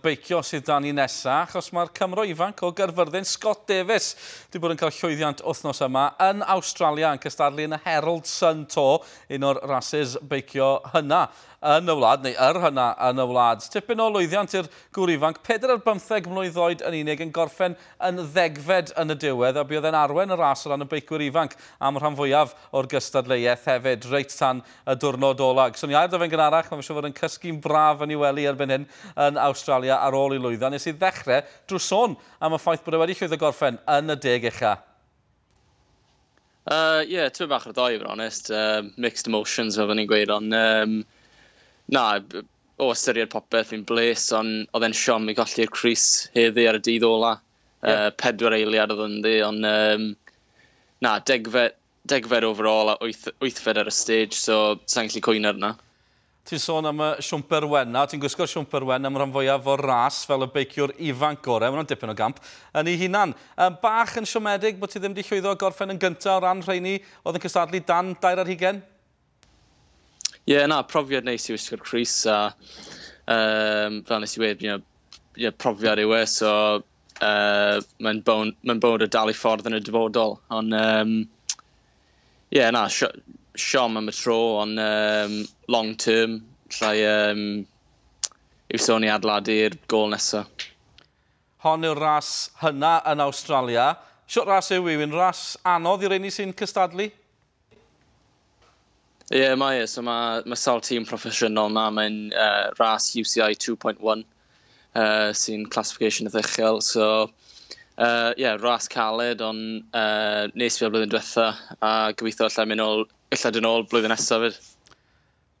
beicio sydd 'da ni nesa, achos mae'r Cymro ifanc o Gaerfyrddin, Scott Davies, wedi bod yn cael llwyddiant wythnos yma yn Awstralia yn cystadlu yn y Herald Sun Tour, un o'r rasys beicio hynna yn y wlad, neu yr hynna yn y wlad. Tipyn o lwyddiant i'r gŵr ifanc, peder ar bymtheg mlwydd oed yn unig, yn gorffen yn ddegfed yn y diwedd, a buodd e'n arwen y ras o ran y beicwyr ifanc am y rhan fwyaf o'r gystadleuaeth hefyd, reit tan y diwrnod ola'. Geson ni air 'da fe'n gynharach, mae fe siŵr fod yn cysgu'n braf yn ei wely erbyn hyn yn Awstralia ar ôl ei lwyddo. Nes i ddechre drw sôn am y ffaith bod e wedi llwyddo gorffen yn y deg ucha. Yy, ie, tywydd bach ar ddoe i fod yn onest, yy mixed emotions fel 'da ni'n gweud ond yym na, o ystyried popeth fi'n bles ond o'dd e'n siom i golli'r crys heddi ar y dydd ola'. Yy pedwar eiliad o'dd ynddi ond yym na, degfed degfed overall a wyth, wythfed ar y stage, so sa'n gallu cwyno ar hwnna. Ti'n sôn am y siwmper wen 'na, ti'n gwisgo'r siwmper wen am rhan fwyaf o'r ras fel y beiciwr ifanc gorau, mae hwnna'n dipyn o gamp yn ei hunan. Yn bach yn siomedig bod ti ddim wedi llwyddo gorffen yn gyntaf o ran rheini oedd yn cystadlu dan dair ar hugain? Ie, yeah, na, profiad neis i wisgo'r Chris, a um, fel nes i wedi, you know, you know, profiad yw e, so uh, mae'n bod ma y dal i ffordd yn y dyfodol. Ond, um, ie, yeah, na, siom am y tro, ond um, long term, llai um, yw sôn i adladu'r gol nesaf. Hon yw'r ras hynna yn Australia. Siwt ras yw yw yn ras anodd i'r rheini sy'n cystadlu? Ie, yeah, mae e. So mae, mae sawl tîm proffesiynol yma. Mae'n uh, ras UCI 2.1 uh, sy'n classification y ddechel. So, ie, uh, yeah, ras caled, ond uh, nes fi o'r blwyddyn diwetha a gobeithio allai mynd ôl, allai dyn ôl blwyddyn nesaf fyd.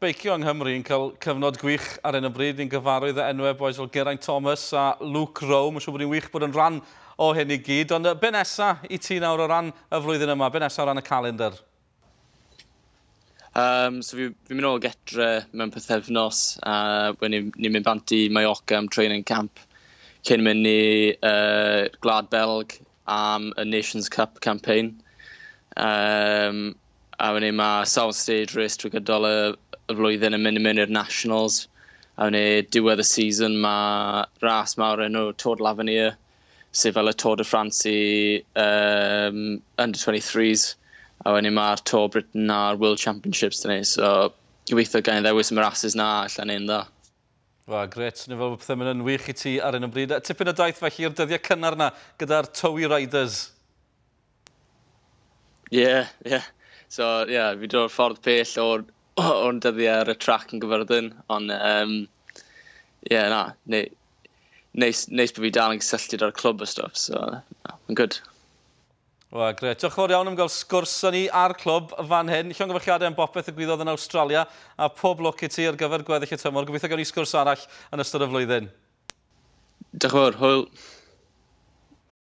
Beicio yng Nghymru yn cael cyfnod gwych ar hyn o bryd. Ni'n gyfarwydd â enwau bois fel Geraint Thomas a Luke Rowe. Mae'n siŵr bod hi'n wych bod yn rhan o hyn i gyd. Ond be nesa i ti nawr o ran y flwyddyn yma? Be nesa o ran y calendr? Um, so fi, fi'n mynd ôl getre mewn pethefnos a wedyn ni'n ni mynd bant i Mallorca am training camp cyn mynd i uh, Glad Belg am y Nations Cup campaign. Um, a wedyn mae Sound Stage Race drwy gydol y, y flwyddyn yn mynd i mewn i'r Nationals, a wedyn diwedd y season mae ras mawr enw Tour de l'Avenir, sydd fel y Tour de France i um, under 23s, a wedyn mae'r Tour Britain a'r World Championships dyn ni, so gobeithio gael ddewis yn y rhasys na allan ein dda. Wel, gret, swnio fel bod pethau'n mynd yn wych i ti ar un o bryd. Tipyn o daith felly i'r dyddiau cynnar na gyda'r Towy Riders. Ie, yeah, ie. Yeah. So, ie, yeah, fi dod ffordd pell o'r, or dyddiau ar y trac yn gyfyrddin, ond, ie, um, yeah, na, neu, neis, neis bod fi dal yn cysylltu â'r clwb a stuff, so, na, yn good. Wel, gret. Diolch yn fawr iawn am gael sgwrs â ni ar clwb fan hyn. Llongyfarchiadau am bopeth y gwyddodd yn Australia a pob lwc i ti ar gyfer gweddill y tymor. Gobeithio gawn ni sgwrs arall yn ystod y flwyddyn. Diolch yn fawr, hwyl.